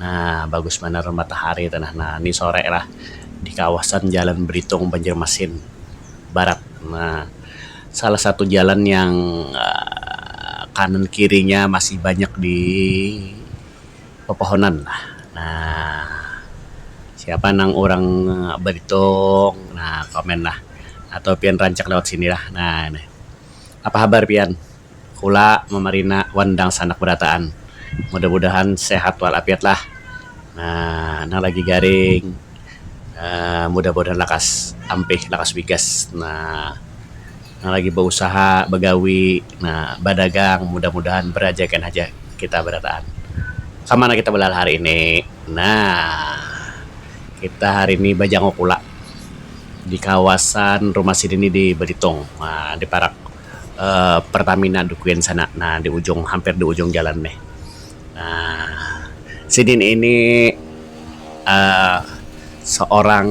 Nah bagus banar matahari tu nah ni sore lah di kawasan jalan belitung banjarmasin barat nah salah satu jalan yang um kanan kiri nya masih banyak di pepohonan lah nah siapa nang orang belitung nah komen lah atau pian rancak lewat sini lah nah apa habar pian. kula mamarina wan dangsanak barataan mudah mudahan sehat wal afiat lah um nang lagi garing um mudah mudahan lakas ampih lakas wigas um nang lagi bausaha bagawi um badagang mudah mudahan barajakan haja kita barataan kamana kita balah hari ini nah kita hari ini bajanguk kula di kawasan rumah sidin ni di belitung um di parak. um pertamina di kuin sana nah di ujung hampir di ujung jalan nih um sidin ini um seorang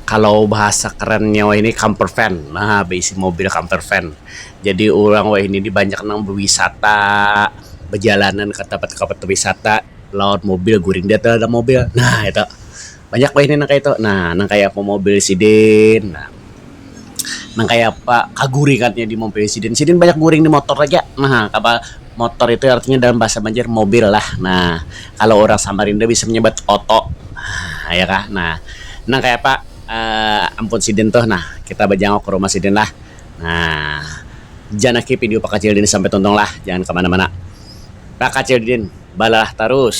kalau bahasa kerennya wahini camper van um beisi mobil camper van jadi orang wahini ni banyak nang bewisata bejalanan ka tempat-tempat wisata lawan mobil guring di dalam mobil nah itu. banyak wahini nang kayatu nah nang kaya apa mobil sidin nah nang kaya apa kaguringannya di mobil sidin, sidin banyak guring di motor aja nah apa motor itu artinya dalam bahasa banjar mobil lah nah kalo urang samarinda bisa manyebat oto nah ya kah nah nang kaya apa um ampun sidin tuh nah kita bajanguk ka rumah sidin lah nah janaki video pakacil dini sampai tuntung lah jangan kamana-mana pakacil didin balalah tarus.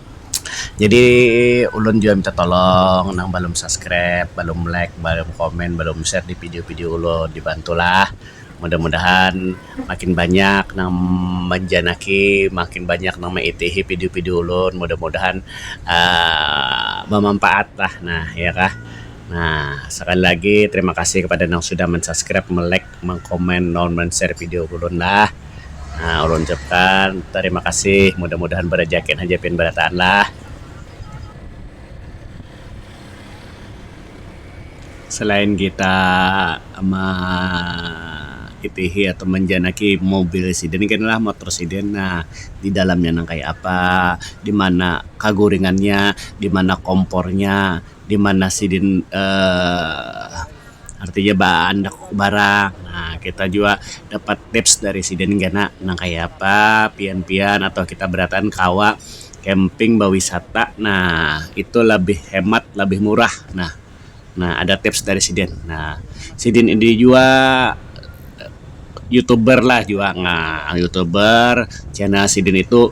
Jadi ulun jua minta tolong nang balum subscribe, balum like, balum comment, balum share di video-video ulun dibantulah mudah-mudahan makin banyak nang manjanaki, makin banyak nang maitihi video-video ulun mudah-mudahan um bamampaatlah nah iya kah. Nah sakali lagi terima kasih kepada yang sudah mensubscribe, melike. mengkomen lawan menshare video ulun lah um ulun ucapkan tarima kasih mudah-mudahan barajakin haja pian barataan lah. Selain kita makitihi atau manjanaki mobil sidin kena lah motor sidin um di dalamnya nang kaya apa, di mana kaguringannya, di mana kompornya, di mana sidin um. artinya baandak barang um kita jua dapat tips dari sidin kena nang kaya apa pian-pian atau kita barataan kawa camping bawisata nah itu labih hemat labih murah nah nah ada tips dari sidin nah sidin ini jua youtuber lah jua nah youtuber channel sidin itu.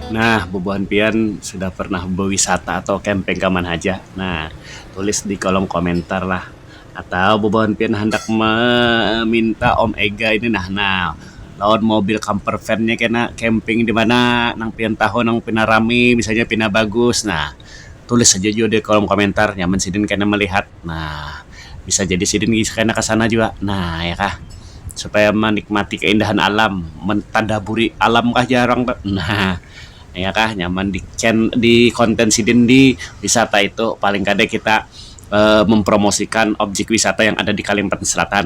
Nah, bubuhan pian sudah pernah bewisata atau camping ka mana haja? Nah, tulis di kolom komentar lah. Atau bubuhan pian handak meminta Om Ega ini nah, nah lawan mobil camper van nya kena camping di mana nang pian tahu nang pina rami, misalnya pina bagus. Nah, tulis haja jua di kolom komentar nyaman sidin kena melihat. nah bisa jadi sidin kena kesana juga nah ya kah supaya menikmati keindahan alam mentadaburi alam kah jar orang tu nah ya kah nyaman di chan di konten sidin di wisata itu paling kada kita mempromosikan objek wisata yang ada di kalimantan selatan.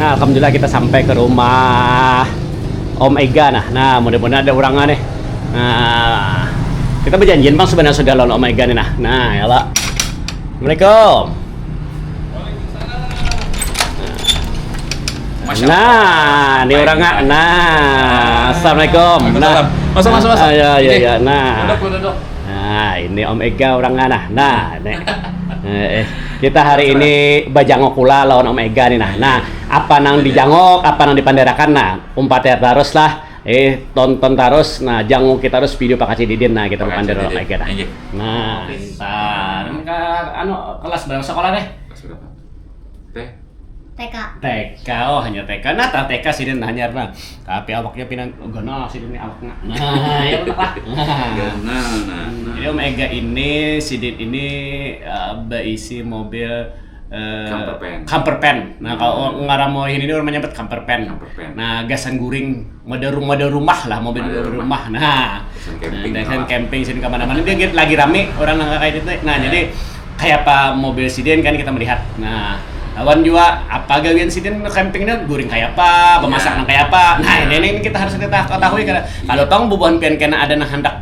Nah, alhamdulillah kita sampai ke rumah Om Ega nah. Nah, mudah-mudahan ada orangnya nih. Nah, kita berjanjian bang sebenarnya sudah lawan Om Ega nih nah. Nah, ya lah. Assalamualaikum. Masya nah, Allah. ini orang nggak. Nah, assalamualaikum. Nah, masuk masuk masuk. Ah, ya ya ya. Nah. Duduk, duduk. Nah, ini Om Ega orang nggak nah. Nah, nek. Eh, eh, kita hari ini bajangok pula lawan Om Ega nih nah. Nah, apa nang dijangok, apa nang dipanderakan nah. Umpat ya terus lah. Jadi tonton terus, nah janguki terus video Pak Kaci Didin nah kita Pak Kaci Didin. Lagi, nah. Injik. Nah, pintar. Ke anu kelas berapa sekolah deh? Kelas berapa? Teh. TK. TK, oh hanya TK. Nah, tak TK sih dan hanya nah. Tapi awaknya pinan oh, ganal sih ini awaknya. Nah, ya lah. Ganal nah. Jadi Om Ega ini, Sidin ini uh, berisi mobil Uh, camper pen. Camper pen. Nah, kalau hmm. ngaran mau ini orang menyebut camper pen. Camper pen. Nah, gasan guring mode rumah mode rumah lah mobil mode rumah. Nah, gasan camping. Nah, gasan camping sini kemana-mana dia lagi rame orang nang kayak itu. Nah, jadi kayak apa mobil siden kan kita melihat. Nah, lawan juga apa gawian siden campingnya guring kayak apa, pemasak iya. nang kayak apa. Nah, iya. ini, ini kita harus kita ketahui iya. kalau tong bubuhan pian kena ada nang hendak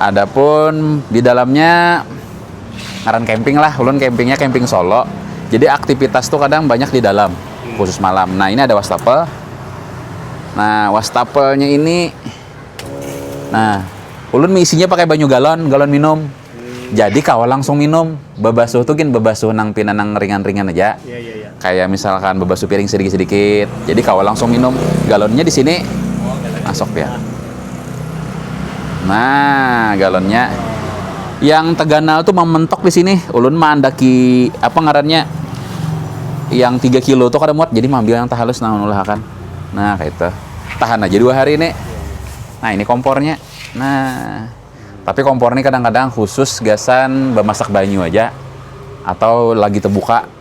Adapun di dalamnya ngaran camping lah, ulun campingnya camping solo. Jadi aktivitas tu kadang banyak di dalam, khusus malam. Nah ini ada wastafel, nah wastafelnya ini nah ulun meisinya pakai banyu galon, galon minum. Jadi kawa langsung minum, babasuh tu gin babasuh nang pina nang ringan-ringan aja. kayak misalkan bebasu piring sedikit-sedikit. Jadi kawa langsung minum galonnya di sini. Masuk ya. Nah, galonnya yang terganal tuh mementok di sini. Ulun mandaki apa ngarannya? Yang 3 kilo tuh kada muat, jadi mengambil yang tahalus nah ulahakan. Nah, kayak itu. Tahan aja dua hari ini. Nah, ini kompornya. Nah, tapi kompor ini kadang-kadang khusus gasan bemasak banyu aja atau lagi terbuka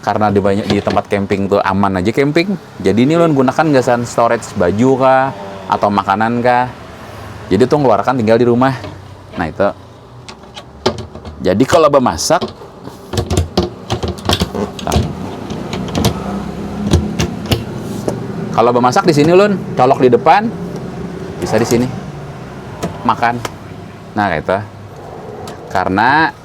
karena di banyak di tempat camping tuh aman aja camping jadi ini lo gunakan gasan storage baju kah atau makanan kah jadi tuh ngeluarkan tinggal di rumah nah itu jadi kalau bemasak kalau bemasak di sini lo colok di depan bisa di sini makan nah itu karena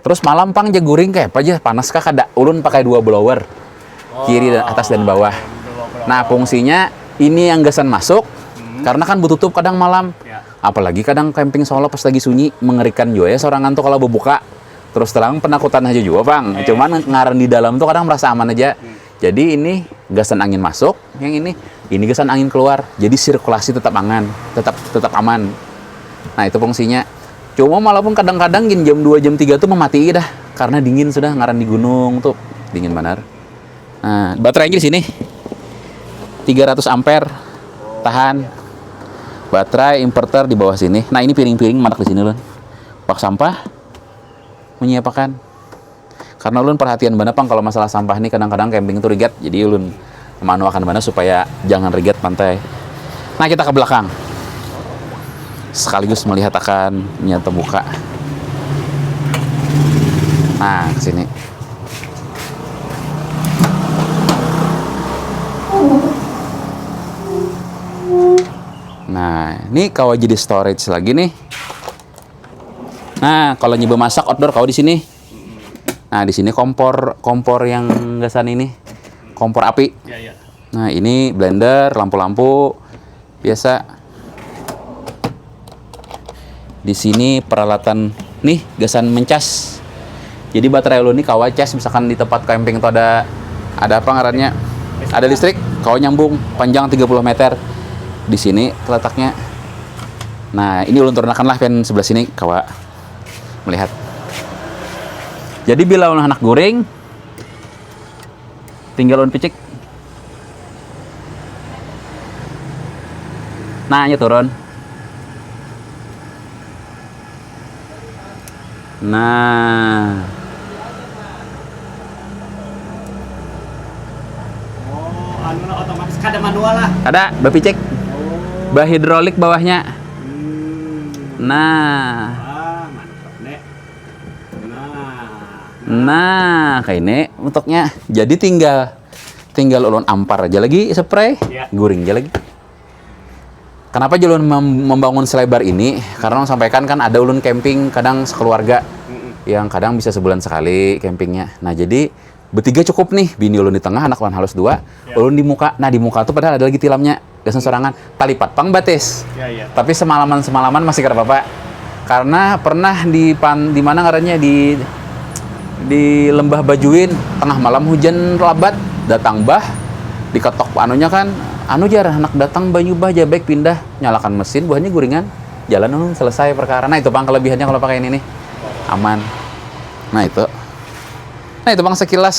Terus malam pang ja guring kayak apa aja panas kah kada? Ulun pakai dua blower kiri dan atas dan bawah. Nah fungsinya ini yang gasan masuk hmm. karena kan bututup kadang malam. Ya. Apalagi kadang camping solo pas lagi sunyi mengerikan juga ya sorangan tuh kalau bubuka. Terus terang penakutan aja juga bang. Ya, ya. Cuman ngaran di dalam tuh kadang merasa aman aja. Hmm. Jadi ini gasan angin masuk, yang ini ini gasan angin keluar. Jadi sirkulasi tetap angan, tetap tetap aman. Nah, itu fungsinya. Cuma walaupun kadang-kadang gin jam 2 jam 3 tuh mematii dah karena dingin sudah ngaran di gunung tuh dingin banar. Nah, baterainya di sini. 300 ampere tahan. Baterai inverter di bawah sini. Nah, ini piring-piring manak di sini, Lun. Bak sampah menyiapakan Karena ulun perhatian banar pang kalau masalah sampah nih kadang-kadang camping tuh rigat jadi ulun maanuakan banar supaya jangan rigat pantai. Nah kita ke belakang sekaligus melihat akan nya tebuka. Nah kesini. Nah ini kawa jadi storage lagi nih. Nah, kalau nyoba masak outdoor kau di sini. Nah, di sini kompor kompor yang gasan ini. Kompor api. Ya, ya. Nah, ini blender, lampu-lampu biasa. Di sini peralatan nih gasan mencas. Jadi baterai ulun ini kawa cas misalkan di tempat camping itu ada ada apa ngarannya? Ada listrik, kawa nyambung panjang 30 meter. Di sini terletaknya. Nah, ini ulun turunakan lah pen sebelah sini kawa melihat. Jadi bila ulun anak guring tinggal ulun picik. Nah, nya turun. Nah. Kada, bapicik. Bahidrolik bawahnya. Nah. Nah, kayak ini bentuknya. Jadi tinggal tinggal ulun ampar aja lagi spray, guring aja lagi. Kenapa Julun membangun selebar ini? Karena orang sampaikan kan ada ulun camping kadang sekeluarga yang kadang bisa sebulan sekali campingnya. Nah jadi betiga cukup nih, bini ulun di tengah, anak lawan halus dua, ya. ulun di muka. Nah di muka tuh padahal ada lagi tilamnya, gasan sorangan. Talipat pang batis, ya, ya. tapi semalaman-semalaman masih kada apa-apa. karena pernah di pan, di mana ngarannya di di lembah Bajuin tengah malam hujan labat datang bah diketok anunya kan anu jar anak datang banyu bah jar baik pindah nyalakan mesin buhannya guringan jalan anu selesai perkara nah itu pang kelebihannya kalau pakai ini nih aman nah itu nah itu pang sekilas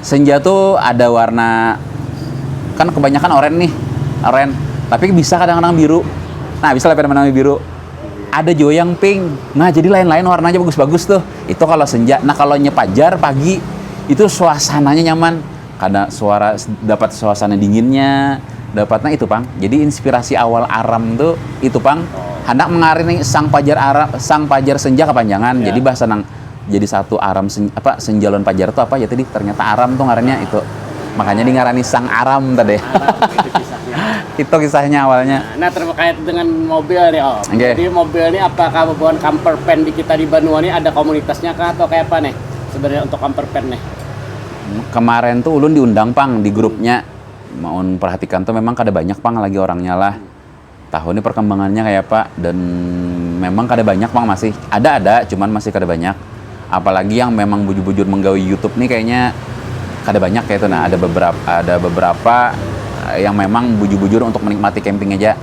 senja tuh ada warna kan kebanyakan oren nih oren tapi bisa kadang-kadang biru nah bisa lah fenomena biru ada juga yang pink nah jadi lain-lain warnanya bagus-bagus tuh itu kalau senja nah kalau nyepajar pagi itu suasananya nyaman karena suara dapat suasana dinginnya dapat nah itu pang jadi inspirasi awal aram tuh itu pang handak mengarini sang pajar aram sang pajar senja kepanjangan jadi bahasa nang jadi satu aram sen, apa senja lawan pajar tuh apa ya tadi ternyata aram tuh ngarannya itu makanya di ngarani sang aram tadi itu kisahnya awalnya nah terkait dengan mobil nih om okay. jadi mobil ini apakah bukan camper van di kita di Banua ini ada komunitasnya kah atau kayak apa nih sebenarnya untuk camper van nih kemarin tuh ulun diundang pang di grupnya mau perhatikan tuh memang kada banyak pang lagi orangnya lah Tahu ni perkembangannya kaya apa dan memang kada banyak pang masih, ada ada cuman masih kada banyak apalagi yang memang bujur bujur menggawi youtube ni kayanya kada banyak kaya itu nah ada beberapa ada beberapa yang memang bujur bujur untuk menikmati camping haja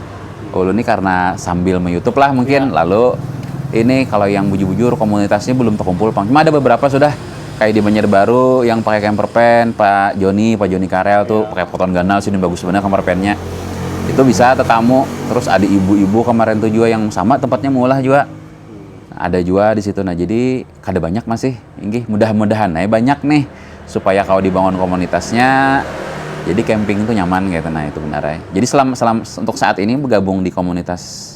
ulun ni karna sambil me youtube lah mungkin lalu ini kalo yang bujur bujur komunitas ni belum tekumpul pang cuma ada beberapa sudah. Kayak di Banjarbaru yang pakai camper van, Pak Joni, Pak Joni Karel tuh pakai poton ganal sini bagus banar camper van-nya. Itu bisa tetamu, terus ada ibu-ibu kemarin tuh jua yang sama tempatnya meulah jua. Ada jua di situ. Nah, jadi kada banyak masih, inggih. Mudah-mudahan ai banyak nih supaya kawa dibangun komunitasnya, jadi camping tuh nyaman kaytu nah, itu banar ai. Jadi selam, selam, untuk saat ini begabung di komunitas.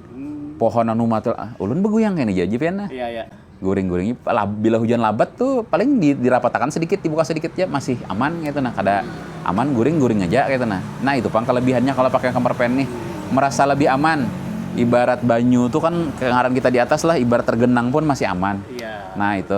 pohon anu matul ah, ulun beguyang kayaknya jaji pian nah. Iya, iya. Guring-guring bila hujan labat tuh paling di, dirapatakan sedikit, dibuka sedikit ya masih aman gitu nah, kada aman guring-guring aja gitu nah. Nah, itu pang kelebihannya kalau pakai kamar pen nih, merasa lebih aman. Ibarat banyu tuh kan ngaran kita di atas lah, ibarat tergenang pun masih aman. Iya. Nah, itu.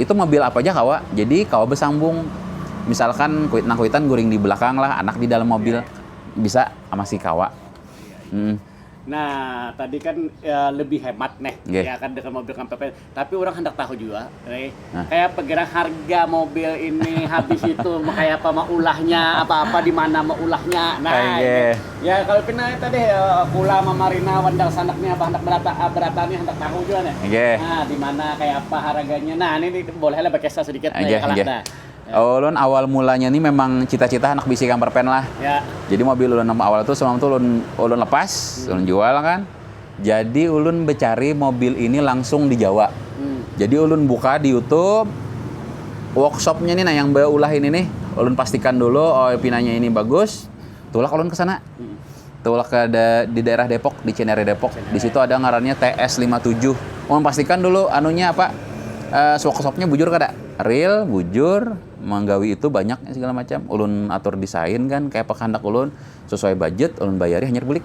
itu mobil apa aja kawa jadi kawa bersambung misalkan kuit nang kuitan guring di belakang lah anak di dalam mobil yeah. bisa masih kawa hmm. Nah, tadi kan ya, lebih hemat nih, yeah. ya kan dengan mobil kampanye. Tapi orang hendak tahu juga, nih, nah. kayak perkiraan harga mobil ini habis itu kayak apa maulahnya, apa-apa di mana maulahnya. Nah, yeah. Ya kalo pina eta deh kula mama rina wan dang sanak nih abah handak berata nih handak tahu jua nih nah dimana kaya apa haraganya nah nih nih boleh lah bekesah sedikit nih ya kalah dah. Ulun awal mulanya nih memang cita cita handak bisi kamper pen lah jadi mobil ulun nang awal tuh semalam tuh ulun ulun lepas ulun jual kan jadi ulun becari mobil ini langsung di jawa jadi ulun buka di youtube workshopnya nih nah yang beulah ini nih ulun pastikan dulu oh pinanya ini bagus. Tulak ulun ke sana. Hmm. Tulak ke da, di daerah Depok, di Cenere Depok. Di situ ada ngarannya TS57. Ulun pastikan dulu anunya apa? Uh, eh, swak-swaknya bujur kada? Real, bujur, menggawi itu banyak segala macam. Ulun atur desain kan kayak apa kehendak ulun sesuai budget, ulun bayari hanyar bulik.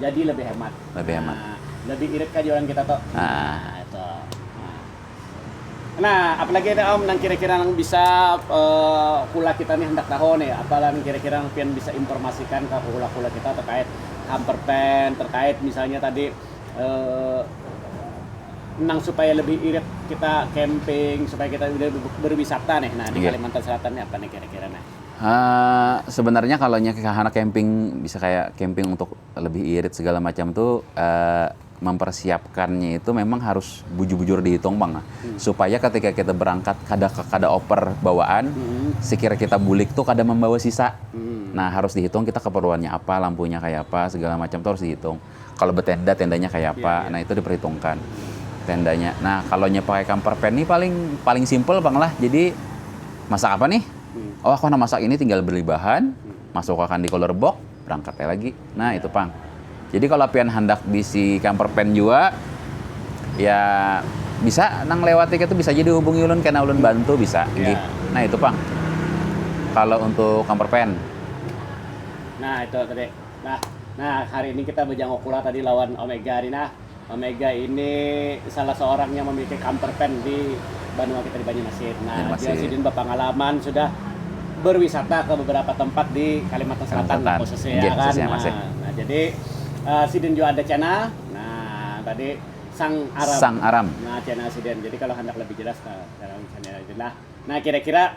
Jadi lebih hemat. Lebih hemat. Nah, lebih irit kah jualan kita tuh. Nah, nah itu. Nah. nah, apalagi ada Om nang kira-kira nang bisa uh, kula kita nih hendak tahu nih, apalah nang kira-kira nang pian bisa informasikan ke kula-kula kita terkait hamperpen, terkait misalnya tadi uh, nang supaya lebih irit kita camping, supaya kita lebih berwisata nih. Nah, di yeah. Kalimantan Selatan nih apa nih kira-kira nih. Uh, sebenarnya kalau nya kahana camping bisa kayak camping untuk lebih irit segala macam tuh uh, mempersiapkannya itu memang harus bujur-bujur dihitung bang hmm. supaya ketika kita berangkat kada kada oper bawaan hmm. sekira kita bulik tuh kada membawa sisa hmm. nah harus dihitung kita keperluannya apa lampunya kayak apa segala macam tuh harus dihitung Kalo betenda, tendanya kaya apa, nah itu diperhitungkan tendanya. Nah, kalo nya pakai camper van nih paling paling simple pang lah. Jadi masak apa nih? Oh aku handak masak ini tinggal beli bahan, masuk akan di cooler box, berangkat ai lagi. Nah itu pang. Jadi kalo pian handak bisi camper van jua, ya bisa nang lewat ikam tu bisa ja dihubungi ulun kena ulun bantu bisa gih. Nah itu pang kalo untuk camper van. Nah itu tadi. Nah, nah hari ini kita bejangok pula tadi lawan Omega nih nah. Omega ini salah seorang yang memiliki camper van di Banua kita di Banyumasin. Nah, Banyumasin. dia sidin berpengalaman sudah berwisata ke beberapa tempat di Kalimantan Selatan, Selatan. khususnya ya kan. Khususnya, nah, ya. nah, jadi uh, sidin juga ada channel. Nah, tadi Sang Aram. Sang Aram. Nah, channel sidin. Jadi kalau hendak lebih jelas nah, dalam channel Nah, kira-kira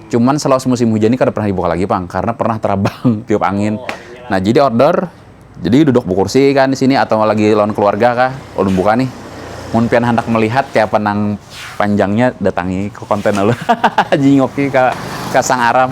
Cuman selawas musim hujan ini kada pernah dibuka lagi pang karena pernah terabang tiup angin. Oh, iya. Nah jadi order, jadi duduk bukursi kan di sini atau lagi lawan keluarga kah, ulun buka nih. Mun pian handak melihat kayapa nang panjangnya datangi ke konten ulun. Jingoki ke ke Sang Aram.